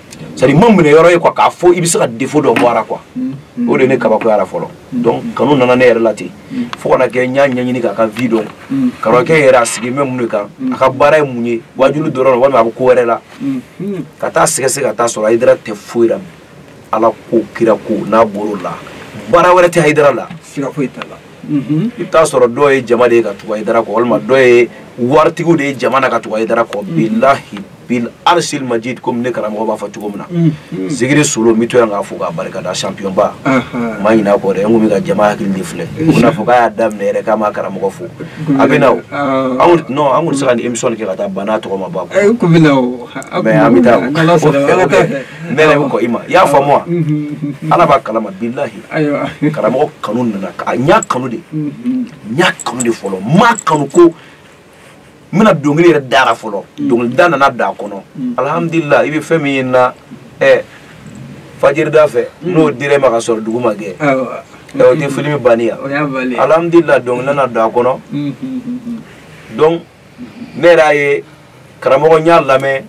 c'est-à-dire n m'a minɛ yɔrɔ ye quoi k'a fɔ i bɛ se ka défaut dɔ bɔ a ra quoi mm-hmm. o de ne kabakoyara fɔlɔ mm-hmm. donc kanu nana ne yɛrɛ la ten mm-hmm. fo ka na kɛ n y'a ɲɛɲini k'a ka vie dɔn karamɔgɔkɛ yɛrɛ a sigi bɛ mun de kan a ka baara ye mun ye wajulu dɔrɔn walima a bɛ ko wɛrɛ la ka taa sɛgɛsɛgɛ ka taa sɔrɔ ayidara tɛ foyi la ala ko kira ko n'a bɔr'o la baara wɛrɛ tɛ ayidara la siga foyi t'a la i bɛ taa sɔrɔ dɔw ye jama de ye ka tugu ayidara kɔ walima dɔw ye waritigiw de ye jama na ka tugu ayidara kɔ bilahi bil arsil majid comme ne karamɔgɔ b'a fɔ cogo min na mm, mm. zikiri solo n bɛ to yan k'a fo k'a barika da champion ba n ma ɲin'a kɔ dɛ n kun bɛ ka jama hakili de filɛ u bɛna fɔ k'a y'a daminɛ yɛrɛ k'a ma karamɔgɔ fo a bɛ na o anw non an kun tɛ se ka nin émission kɛ ka taa ban a tɔgɔ ma ba kɔ eh, mais an bɛ taa o ne yɛrɛ bɛ kɔn i ma i y'a faamu wa mm-hmm. ala b'a kalama bilahi karamɔgɔ kanu nana a n y'a kanu de n y'a kanu de fɔlɔ n m'a kanu ko n bɛna dɔnkili yɛrɛ d'a ra fɔlɔ mm. dɔnkili da nana d'a kɔnɔ mm. alhamdulila i bɛ fɛn min ye n na ɛ fajirida fɛ mm. n'o dir'i ma ka sɔrɔ dugu ma gɛ ɛ o tɛ filimi banni ya alhamdulila dɔnkili nana d'a kɔnɔ donc ne yɛrɛ y'a ye karamɔgɔ n y'a lamɛn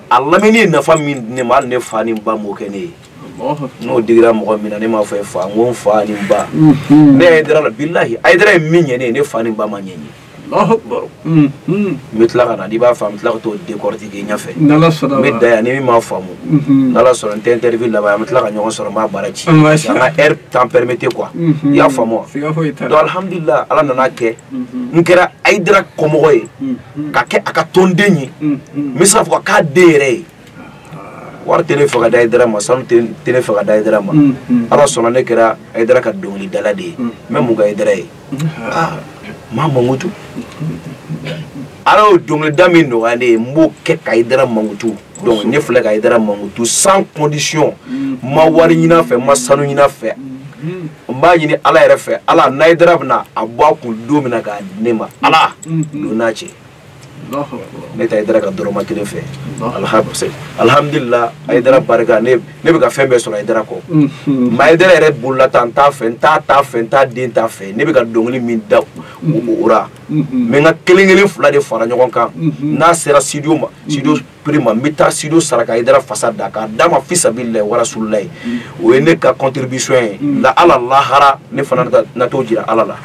a lamɛnni ye nafa min di ne ma hali ne fa ni n ba m'o kɛ ne ye n'o digira mɔgɔ min na ne m'a fɔ e fa n ko n fa ni n ba ne y'a ye ayidara la bilahi ayidara ye min ɲɛ ne ye ne fa ni n ba m'a ɲɛ n ye n bɛ tila ka na n'i b'a faamu n bɛ tila ka t'o décortiquer ɲɛfɛ n bɛ dan yan ni min m'a faamu n'ala sɔnna nin interview laban an bɛ tila ka ɲɔgɔn sɔrɔ n b'a baara ci an ka heure temps permettait quoi i y'a faamu wa donc alhamdulilah ala nan'a kɛ n kɛra ayidara kɔmɔgɔ ye ka kɛ a ka tɔnden ye n bɛ se k'a fɔ k'a den yɛrɛ ye wari tɛ ne fɛ ka di ayidara ma sanu tɛ ne fɛ ka di ayidara ma mm, mm. ala sɔnna ne kɛra ayidara ka dɔnkilidala de ye n mm. bɛ mun kɛ ayidara ye ah, n b'a mankutu ala y'o dɔnkilida min nɔgɔya ne ye n b'o kɛ ka ayidara mankutu donc ne filɛ ka ayidara mankutu sans condition n ma wari ɲini a fɛ n ma sanu ɲini a fɛ n b'a ɲini ala yɛrɛ fɛ ala n'ayidara bɛna a bɔ a kun don min na k'a di ne ma ala don n'a cɛ ne tɛ Aidara ka dɔrɔmɛ kelen fɛ alhamdulila Aidara barika ne bɛ ka fɛn bɛɛ sɔrɔ Aidara kɔ nka Aidara yɛrɛ bolola ta n t'a fɛ n t'a ta fɛ n t'a den ta fɛ ne bɛ ka dɔnkili min da o ra n bɛ n ka kelen kelen fila de fara ɲɔgɔn kan n'a sera studio ma studio prix ma n bɛ taa studio sara ka Aidara fasa da k'a d'a ma fisabililayi warasulilayi o ye ne ka contribution ye nka ala lahara ne fana na t'o jira ala la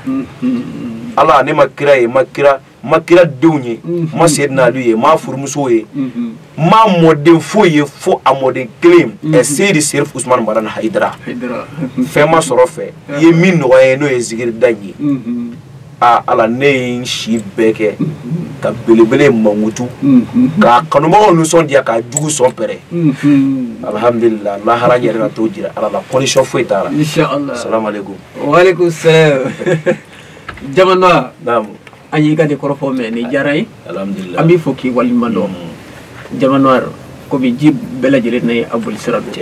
ala ne ma kira ye n ma kira ma kira denw ye ma seyiduna alu ye ma furumusow ye ma mɔden foyi ye fo a mɔden kelen ɛseyidi serifu usumani madani hayidara fɛn ma sɔrɔ n fɛ i ye min nɔgɔya n ye n'o ye zikiri da ye aa ala ne ye n si bɛɛ kɛ ka belebele mankutu k'a kanubagaw nisɔndiya k'a juguw sɔn pɛrɛn alhamdulilah lahara yɛrɛ ka t'o jira ala la condition foyi t'a la salamu aleykum waaleykum salaam diamant noir an y'i ka nin kɔrɔfɔ mɛn nin diyara an ye an b'i fo k'i waliɲuman dɔn mm. diamant noir komi ji bɛɛ lajɛlen na ye a bolisira don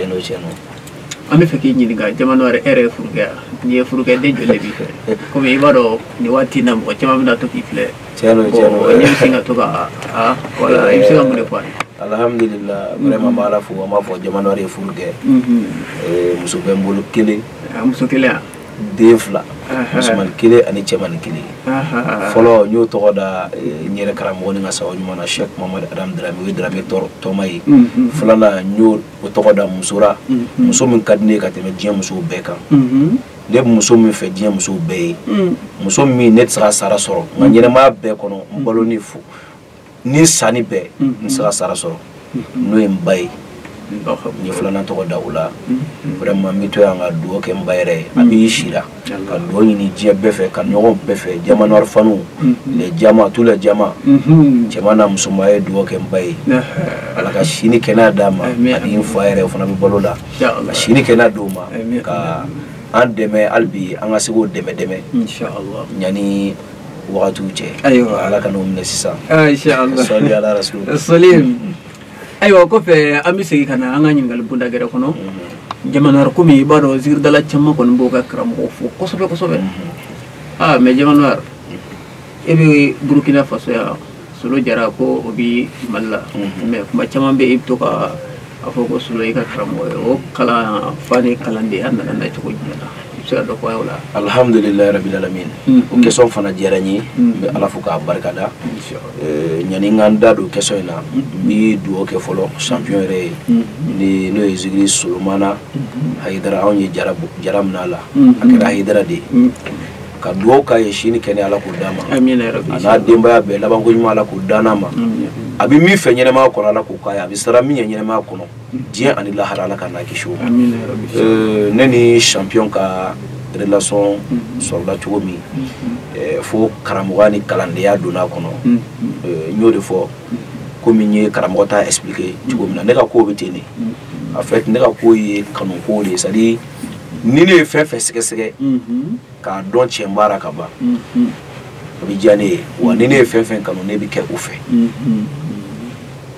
an b'a fɛ k'i ɲininka diamant noir e yɛrɛ ye furu kɛ wa n'i ye furu kɛ den joli de b'i fɛ komi i b'a dɔn nin waati na mɔgɔ caman bɛna to k'i filɛ ne bɛ sin ka to ka a wala i bɛ se ka mun de fɔ an ye alhamdulillah vraiment n b'ala fo n b'aw fo diamant noir ye furu kɛ muso bɛ n bolo kelen muso kelen yan den fila musoman kelen ani cɛmani kelen fɔlɔ n y'o tɔgɔ da eh, n yɛrɛ karamɔgɔ ni n ka sabu ɲuman na shek mamadu adam drame o ye drame tɔma ye filanan n y'o tɔgɔ da muso ra muso min ka di ne ye ka tɛmɛ diɲɛ musow bɛɛ kan ne bɛ muso min fɛ diɲɛ musow bɛɛ ye muso min ne tɛ se k'a sara sɔrɔ n ka ɲɛnɛmaya bɛɛ kɔnɔ n balonin fo ni n sanin bɛɛ n tɛ se k'a sara sɔrɔ n'o ye n ba ye n ye filanan tɔgɔ da o la vraiment n bɛ to yan ka dugawu kɛ n ba yɛrɛ ye a bɛ si la ka dugawu ɲini diɲɛ bɛɛ fɛ ka ɲɔgɔn bɛɛ fɛ diamant noir faniw les diamants tous les diamants cɛman n'a musoman ye dugawu kɛ n ba ye ala ka si ni kɛnɛya d'a ma ani n fa yɛrɛ o fana bɛ balo la ka si ni kɛnɛya d'o ma ka an dɛmɛ hali bi an ka se k'o dɛmɛ dɛmɛ ɲani wagatiw cɛ ayiwa ala ka n'o minɛ sisan sɔli ala rasul sɔli ayiwa kɔfɛ an bɛ segin ka na an ka ɲininkali bonda gɛrɛ kɔnɔ mhm. diamant noir komi i b'a dɔn zikiridala caman kɔni b'o ka karamɔgɔ fo kosɛbɛ kosɛbɛ mhm. aa ah, mais diamant noir e bɛ burukina faso yan solo jara ko o bi mali la mhm. mais kuma caman bɛ i bɛ to ka a fɔ ko solo i ka karamɔgɔ ye o kalanfa ni kalandenya nana na cogo jumɛn na i bɛ se ka dɔ fɔ an ye o la alhamdulilayi rabil alamin mhm. o question fana diyara n ye mhm. n bɛ ala fo k'a barikada ɲani n ka n da don question in na n bɛ dugawu kɛ fɔlɔ champion yɛrɛ ye ni n'o ye zikiri solomana hayidara anw ye jara min na a la a kɛra hayidara de ye ka dugawu k'a ye si ni kɛnɛya ala k'o d'a ma a n'a denbaya bɛɛ labanko ɲuman ala k'o d'a ma a bɛ min fɛ ɲɛnɛmaya kɔnɔ ala k'o k'a ye a bɛ siran min ɲɛ ɲɛnɛmaya kɔnɔ diɲɛ ani lahara ala k'an n'a kisi o ma ne ni champion ka relation sɔrɔla cogo min fo karamɔgɔya ni kalandenya donna a kɔnɔ n y'o de fɔ komi n ye karamɔgɔ ta expliquer cogo min na ne ka kow bɛ ten de en fait ne ka ko ye kanuko de ye c'est à dire ni ne ye fɛn fɛn sɛgɛsɛgɛ k'a dɔn tiɲɛ b'a la ka ban o bɛ diya ne ye wa ni ne ye fɛn fɛn kanu ne bɛ kɛ o fɛ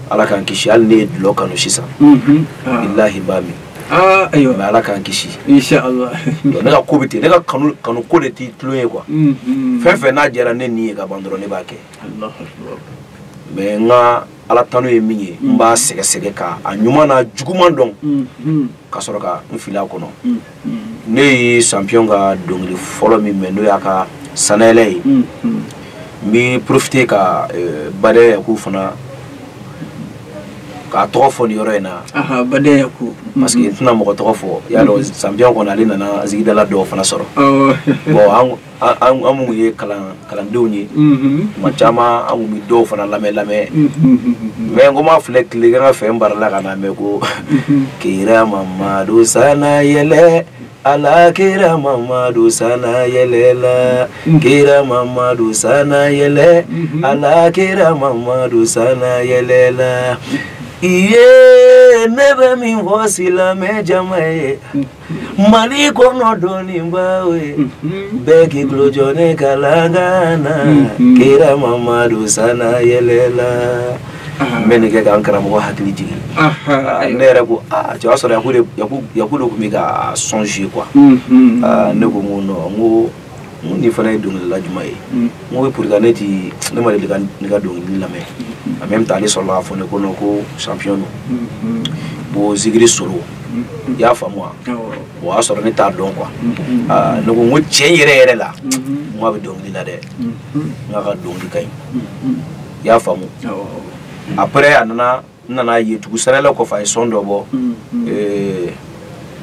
ala k'an kisi hali ne ye dɔlɔ kanu sisan bilahi n b'a min Ah, ayiwa mais ala k'an kisi ne ka ko bɛ ten ne ka kanu kanu ko de tɛ tulon ye quoi mm-hmm. fɛn fɛn n'a diyara ne ni ye ka ban dɔrɔn ne b'a kɛ mais n ka ala tanu ye min ye n mm. b'a sɛgɛsɛgɛ ka a ɲuman n'a juguman dɔn mm, mm. ka sɔrɔ ka n fili a kɔnɔ ne ye champion ka dɔnkili fɔlɔ min mɛn n'o y'a ka sanayɛlɛ ye n bɛ profiter ka eh, badɛya yaku fana k'a tɔgɔ fɔ nin yɔrɔ in na badɛya yaku parce que n tɛna mɔgɔ tɔgɔ fɔ y'a dɔn champion kɔni ale nana zikiridala dɔw fana sɔrɔ bon an minnu ye kalandenw ye maa caman an bɛ dɔw fana lamɛn lamɛn mais ko ma filɛ tile ka ka fɛn baara la ka na mɛn ko kira mamadu san yɛlɛ ala kira mamadu san yɛlɛ la kira mamadu san yɛlɛ ala kira mamadu san yɛlɛ la i ye ne bɛ min fɔ silamɛ jama ye mali kɔnɔ dɔnnibaw ye mhm. bɛɛ k'i tulo jɔ ne kalankan na mhm. kira mamadu sana yɛlɛla n bɛ nin kɛ k'an karamɔgɔ hakili jigin ah, ne yɛrɛ ko aa cɛ o y'a sɔrɔ yaku de tun bɛ ka son joué quoi mhm. ne ko n ko non n ko nin fana ye dɔnkilidala jumɛn ye n ko pour que ne ti ne ma deli ka nin ka dɔnkili lamɛn en même temps ale sɔrɔla k'a fɔ n ye ko non ko champion don bon zikiri solo i y'a faamu wa o y'a sɔrɔ ne t'a dɔn quoi ne ko n ko tiɲɛ yɛrɛ yɛrɛ la n ko a bɛ dɔnkili la dɛ n k'a ka dɔnkili ka ɲi i y'a faamu après a nana n nana ye tugun sanayɛlɛ kɔfɛ a ye son dɔ bɔ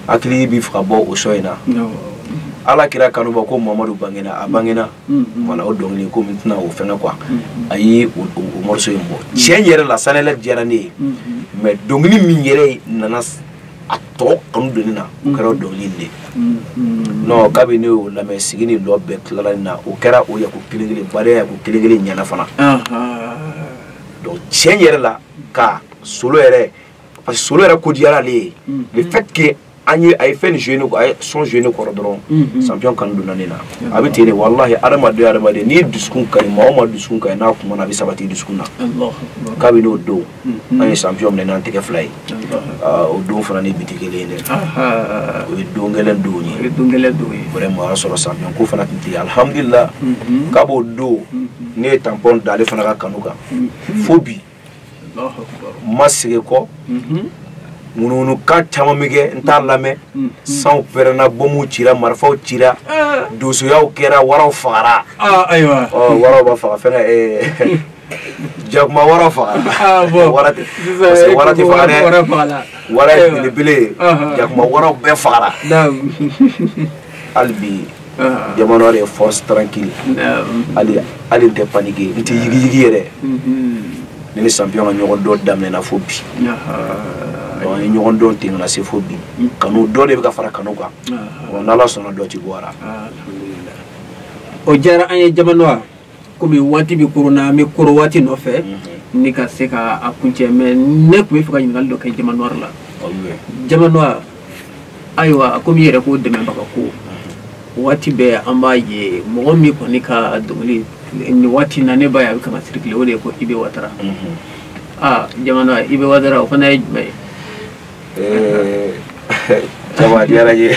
hakili b'a fɛ ka bɔ o son in na ala kira kanubaw ko mamadu bangena a bangena wala o dɔnkili ko n tɛna o fɛnkɛ quoi a ye o morceau in bɔ tiɲɛ yɛrɛ la sanayɛlɛ diyara ne ye mais dɔnkili min yɛrɛ nana a tɔgɔ kanu don n na o kɛra dɔnkili de non kabi ne y'o lamɛn sigi ni lɔ bɛɛ tilala nin na o kɛra o yako kelen kelen baara yako kelen kelen ɲɛna fana donc tiɲɛ yɛrɛ la ka solo yɛrɛ parce que solo yɛrɛ ko diyara ale ye mm. le fait que an ye a ye fɛn joué ne a ye son joué ne kɔrɔ dɔrɔn mm-hmm. champion kanu donna ne na a bɛ ten de walahi adamaden adamaden n'i dusukun ka ɲi maa o maa dusukun ka ɲi n'a kumana a bɛ sabati dusukun na kabini o don mm-hmm. an ye champion minɛ n'an tɛgɛ fila ye ah, o don fana ni bi tɛ kelen ye dɛ ah, ah, o ye don gɛlɛn don ye vraiment o y'a sɔrɔ champion ko fana tun tɛ yen alihamudulila mm-hmm. k'a b'o don ne ye tanpɔn da ale fana ka kanu kan fo bi n ma segin kɔ ŋunuŋunukan caman bɛ kɛ n t'a lamɛn sanw pɛrɛnna bɔmuw cira marifaw cira donsoyaw kɛra waraw fagara waraw b'a faga fɛn eh, jakuma wara fagara ah, wara tɛ parce que wara tɛ faga dɛ wara ye belebele ye jakuma waraw bɛɛ fagara hali bi jama noir de ye force tranquille hali n tɛ paniquer n tɛ yigiyigi yɛrɛ ne ni champion ka ɲɔgɔn dɔn daminɛna fo bi an ye ɲɔgɔn dɔn ten ka na se fo bi kanu dɔ de bɛ ka fara kanu kan wa n'ala sɔnna dɔ ti bɔ a la o diyara an ye jama noir komi waati bɛ koron na an bɛ koron waati nɔfɛ mhm. ni ka se ka a kuncɛ mais ne tun b'a fɛ ka ɲininkali dɔ kɛ jama noir la jama noir ayiwa komi i yɛrɛ ko dɛmɛbaga ko mhm. waati bɛɛ an b'a ye mɔgɔ min kɔni ka dɔnkili nin waati na ne b'a ye a bɛ ka circuler o de ye ko ibe watara mhm. aa jama noir ibe watara o fana ye jumɛn ye eh, jama diyara n ye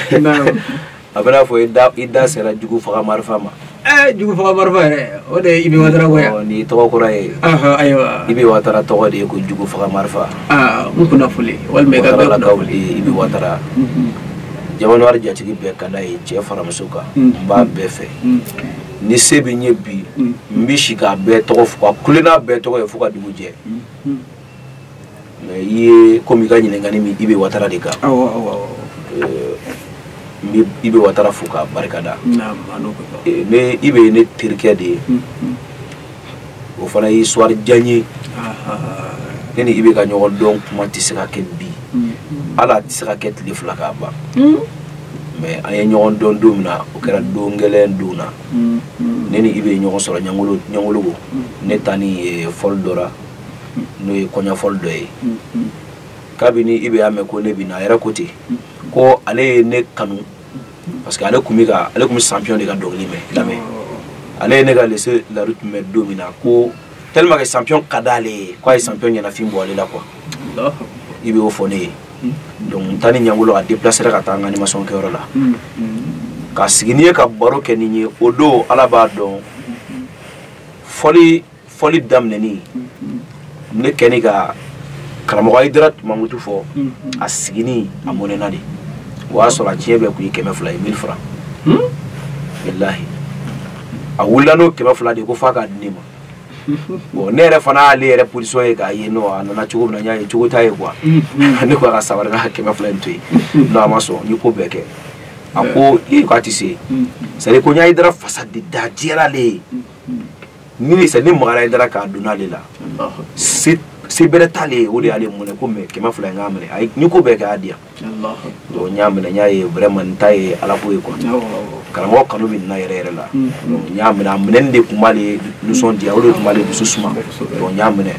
a bɛ n'a fɔ i da i da sera jugu faga marifa ma ɛɛ eh, jugu faga marifa yɛrɛ o de ye ibe watara ko ye nin ye tɔgɔ kura ye ayiwa ibe watara tɔgɔ de ye ko jugu faga marifa aa n kunnafoli walima i ka bɛɛ kunnafoli ibe watara mhm. jama noir jatigi bɛɛ ka d'a ye cɛ fara muso kan mhm. n b'a bɛɛ fɛ mhm. ni se bɛ n ye bi n bɛ si k'a bɛɛ tɔgɔ fɔ ka kule n'a bɛɛ tɔgɔ ye fo ka dugu jɛ mais i ye komi i ka ɲininkali min ibe watara de kan awɔ awɔ awɔ euh, n bɛ ibe watara fo k'a barika da naam a n'o bɛ ban Euh, ne ibe ye ne terikɛ de ye Hmm, hmm. o fana ye histoire jan ye Ah, ah, ah. ne ni ibe ka ɲɔgɔn dɔn kuma tɛ se ka kɛ bi Hmm, hmm. hali a tɛ se ka kɛ tile fila k'a ban Hmm, mais an ye ɲɔgɔn dɔn don min na o kɛra don kelen dɔ la hmm, hmm. ne ni ibe ɲɔgɔn sɔrɔ ɲangolo ɲangoloko ne taani eh, fɔli dɔ la n'o ye kɔɲɔfɔli dɔ ye kabini ibe y'a mɛn ko ne bɛ na a yɛrɛ ko ten ko ale ye ne kanu parce que ale tun bɛ ka ale tun bɛ champion de ka dɔnkili mɛn lamɛn ale ye ne ka lese lari tun mɛn don min na ko tellement que champion ka d'ale ye k'a ye champion ɲɛnafin bɔ ale la quoi ibe y'o fɔ ne ye donc n taani ɲangolo a déplacera ka taa an ka animation kɛyɔrɔ la ka sigi ni n ye ka baro kɛ ni n ye o don ala b'a dɔn fɔli fɔli daminɛni ne kɛni ka karamɔgɔ ayidara mamutu fɔ a sigini a mɔnɛna de o y'a sɔrɔ a tiɲɛ bɛɛ kun ye kɛmɛ fila ye mille francs walahi a wulila n'o kɛmɛ fila de ko f'a k'a di ne ma bon ne yɛrɛ fana y'ale yɛrɛ position ye k'a ye nɔ a nana cogo min na n y'a ye cogo t'a ye quoi ne ko a ka sabari n'a kɛmɛ fila in to yen non a ma sɔn n ye ko bɛɛ kɛ a ko ee k'a tɛ se c'est à dire ko n ye ayidara fasa de da diyara ale ye ni ne sa ni magara ye dara k'a donna ale la se se bɛrɛ t'ale ye o de y'ale mun ko mɛ kɛmɛ fila in k'a minɛ ayi ni ko bɛɛ kɛ a di yan donc n y'a minɛ n y'a ye vraiment nin ta ye ala ko ye quoi karamɔgɔ kanu bɛ nin na yɛrɛ yɛrɛ la mm. donc n y'a minɛ a minɛni de tun b'ale nisɔndiya o de tun b'ale dusu suma donc n y'a minɛ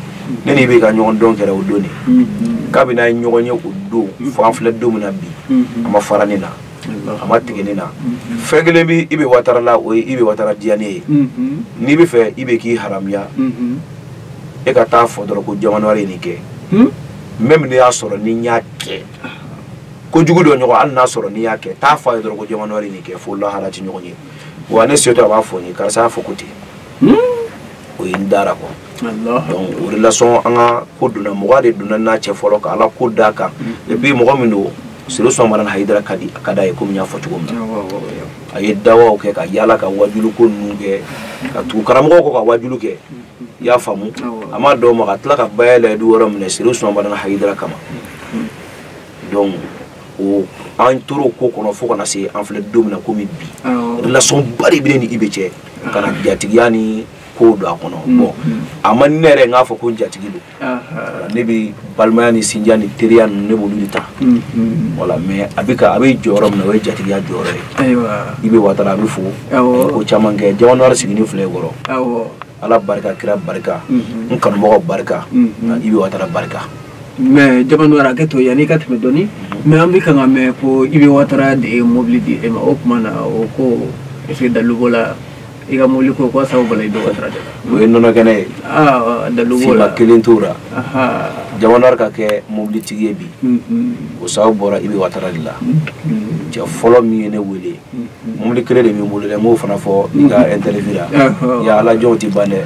ne n'i bɛ ka ɲɔgɔn dɔn kɛra o don de mm-hmm. kabini an ye ɲɔgɔn ye o don fo an filɛ don min na bi mm-hmm. a ma fara ne na a ma tigɛ ne na fɛn kelen bɛ i bɛ watara la o ye i bɛ watara diya ne ye n'i b'a fɛ i bɛ k'i haramuya e ka taa fɔ dɔrɔn ko jamanawari ye nin kɛ n bɛ min y'a sɔrɔ ni n y'a kɛ ko jugu dɔ ɲɔgɔn hali n'a sɔrɔ n'i y'a kɛ taa fɔ a ye dɔrɔn ko jamanawari nin kɛ fo lahara ti ɲɔgɔn ye wa ne setɔ a b'a fɔ n ye karisa y'a fɔ ko ten o ye n dara kɔ donc o de lasɔn an ka ko donna mɔgɔ de donna n'a cɛ fɔlɔ ka ala ko d'a kan et puis mɔgɔ min don serifu usumani madani hayidara ka di a ka d'a ye komi n y'a fɔ cogo min na a ye dawaw kɛ ka yaala ka wajulu ko ninnu kɛ ka tugu karamɔgɔw kɔ ka wajulu kɛ i y'a faamu a ma dan o ma ka tila ka baya layidu wɛrɛ minɛ serifu usumani madani hayidara kama donc o an tora o ko kɔnɔ fo ka na se an filɛ don min na komi bi relation ba de bɛ n ni i bɛ cɛ ka na jatigiya ni kow don a kɔnɔ bon a ma ne yɛrɛ n k'a fɔ ko jatigi don ne bɛ balimaya ni sinjiya ni teriya ninnu ne b'olu de ta a la mais a bɛ a bɛ jɔyɔrɔ min na o ye jatigiya jɔyɔrɔ ye i bɛ watara a bɛ fo ko caman kɛ jamanawari sigilen filɛ i kɔrɔ ala barika kira barika n kanumɔgɔ barika i bɛ watara barika mais jamanawari hakɛto yanni i ka tɛmɛ dɔɔnin mais an bɛ k'a mɛn ko i bɛ watara de ye mobili di e ma o tuma na o ko e dalu b'o la i ka mobili ko ko sababu bɔra i dɔgɔ sira de la o ye nɔnɔ kɛnɛ ye dalu b'o la nkalon t'o la jamanawari ka kɛ mobilitigi ye bi o sababu bɔra i bɛ watara de la cɛ fɔlɔ min ye ne wele mobili kelen de bɛ n bolo dɛ n b'o fana fɔ i ka interview la ya ala jɔnw tɛ ban dɛ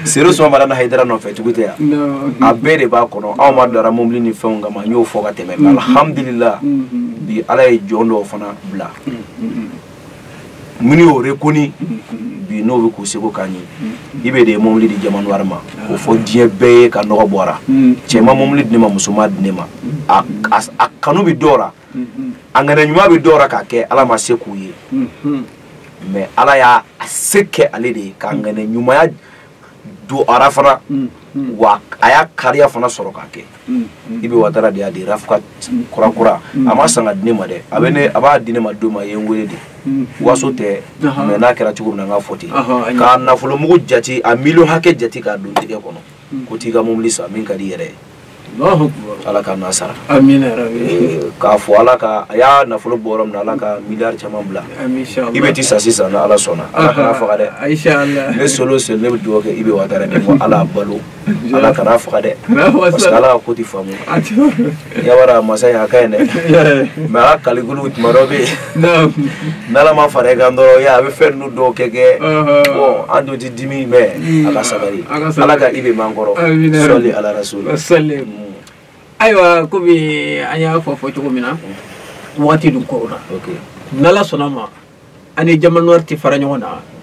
serifu usumani madani hayidara nɔfɛ tugu tɛ yan a bɛɛ de b'a kɔnɔ anw ma dara mobili ni fɛnw kama n y'o fɔ ka tɛmɛ alhamdulillah bi ala ye jɔn dɔw fana bila minnu y'o rekoni bi n'o bɛ k'u seko k'an ye i bɛ de ye mobili di jamanawari ma k'o fɔ diɲɛ bɛɛ ye ka nɔgɔ bɔra cɛ ma mobili di ne ma muso m'a di ne ma a kanu bɛ dɔw la a ŋaniya ɲuman bɛ dɔw la k'a kɛ ala m'a se k'u ye mais ala y'a se kɛ ale de ye k'a ŋaniya ɲumanya du ara fana mm, mm. wa a y'a kariya fana sɔrɔ k'a kɛ mm, i bɛ watara de y'a di rafuka kura kura a m'a san k'a di ne ma dɛ a bɛ ne a b'a di ne ma don min a ye n wele de waso tɛ mais n'a kɛra cogo min na n k'a fɔ ten k'a nafolo mugu jate a miliyɔn hakɛ jate k'a don n tɛgɛ kɔnɔ ko taa i ka mobili san min ka di i yɛrɛ ye ala ka na sara k'a fɔ ala ka a y'a nafolo bɔ yɔrɔ min ala ka milliard caman bila ibe ti sa sisan ni ala sɔnna ala kana faga dɛ ne solo seli ne bɛ dugawu kɛ ibe watara ala balo ala kana faga dɛ parce que ala ka ko ti faamu yabara masa a ka ɲi dɛ mais ala kalikulu tuma dɔ bɛ yen n'ala ma fara i kan dɔrɔn ya a bɛ fɛn ninnu dɔw kɛ kɛ bɔn an dun ti dimi mais a ka sabali ala ka ibe man kɔrɔ sɔli ala rasuli ayiwa komi an y'a fɔ fɔ cogo min na wagati dun korona n'ala sɔnna ma an ni jama noir tɛ fara ɲɔgɔn na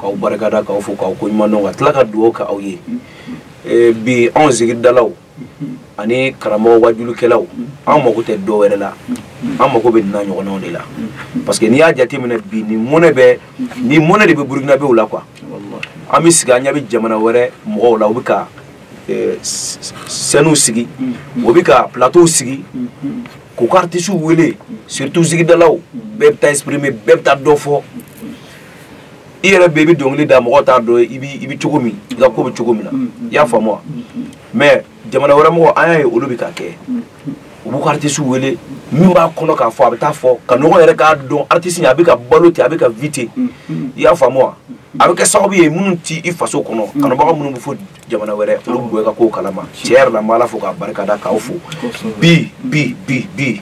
k'aw barikada k'aw fo k'aw ko ɲuman dɔn ka tila ka dugawu kɛ aw ye eh, bi anw zikiridalaw ani karamɔgɔ wajulukɛlaw an mago tɛ dɔ wɛrɛ la an mago bɛ nin ɲɔgɔnnaw de la parce que n'i y'a jateminɛ bi ni mɔnɛ bɛ ni mɔnɛ de bɛ burukinabew la quoi an bɛ sigi an ɲɛ bɛ jamana wɛrɛ mɔgɔw la u bɛ ka eh, sɛniw sigi u bɛ ka plateau sigi k'u ka artisiw wele surtout zikiridalaw bɛɛ bɛ taa exprimer bɛɛ bɛ taa dɔ fɔ i yɛrɛ bɛ i bɛ dɔnkili da mɔgɔ t'a dɔn i bɛ i bɛ cogo min i ka ko bɛ cogo min na mm, mm. i y'a faamu wa mm, mais jamana wɛrɛ mɔgɔ an y'a ye olu bɛ ka kɛ u b'u ka aritisi wele min b'a kɔnɔ k'a fɔ a bɛ taa fɔ kanubaga yɛrɛ k'a dɔn aritisi a bɛ ka balo ten a bɛ ka vi ten i y'a faamu wa a bɛ kɛ sababu ye minnu tɛ i faso kɔnɔ kanubaga minnu bɛ fo jamana wɛrɛ olu b'i ka kow kalama tiɲɛ yɛrɛ la n bɛ ala fo k'a barika da k'aw fo bi bi bi bi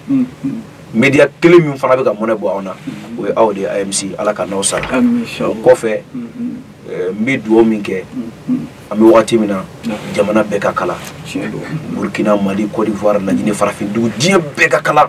media kelen min fana bɛ ka mɔnɛ bɔ anw na o ye aw de ye amc ala ka n'aw sara o kɔfɛ eh, n bɛ dugawu min kɛ an bɛ wagati min na jamana bɛɛ ka kalan burkina mali cote d'ivoire laginɛ farafin dugu diɲɛ bɛɛ ka kalan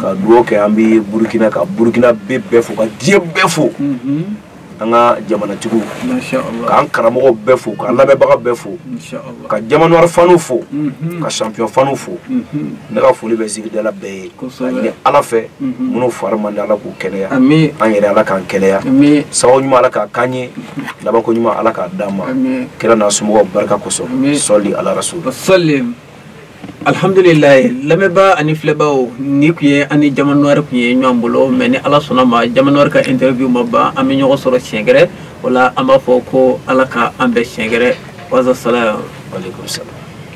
ka dugawu kɛ an bɛ burukina ka burukinabɛ bɛɛ fo ka diɲɛ bɛɛ fo an ka jamanatigiw k'an karamɔgɔw bɛɛ fo k'an lamɛnbaga bɛɛ fo ka jamanawari fanu fo ka sanpiyɔn fanu fo ne ka foli bɛ zikiridala bɛɛ ye ka ɲini ala fɛ minnu fari man di ala k'u kɛnɛya an yɛrɛ ala k'an kɛnɛya sababu ɲuman ala k'a k'an ye labanko ɲuman ala k'a d'an ma kira n'a somɔgɔw barika kosɔn sɔli ala rasuli alihamdulilayi lamɛnbaa ani filɛbaaw nin tun ye an ni jamanwari tun ye ɲɔgɔn bolo mais ni ala sɔnna ma jamanwari ka interview ma ban an bɛ ɲɔgɔn sɔrɔ siɲɛ gɛrɛ o la an b'a fɔ ko ala ka an bɛn siɲɛ gɛrɛ wasalamu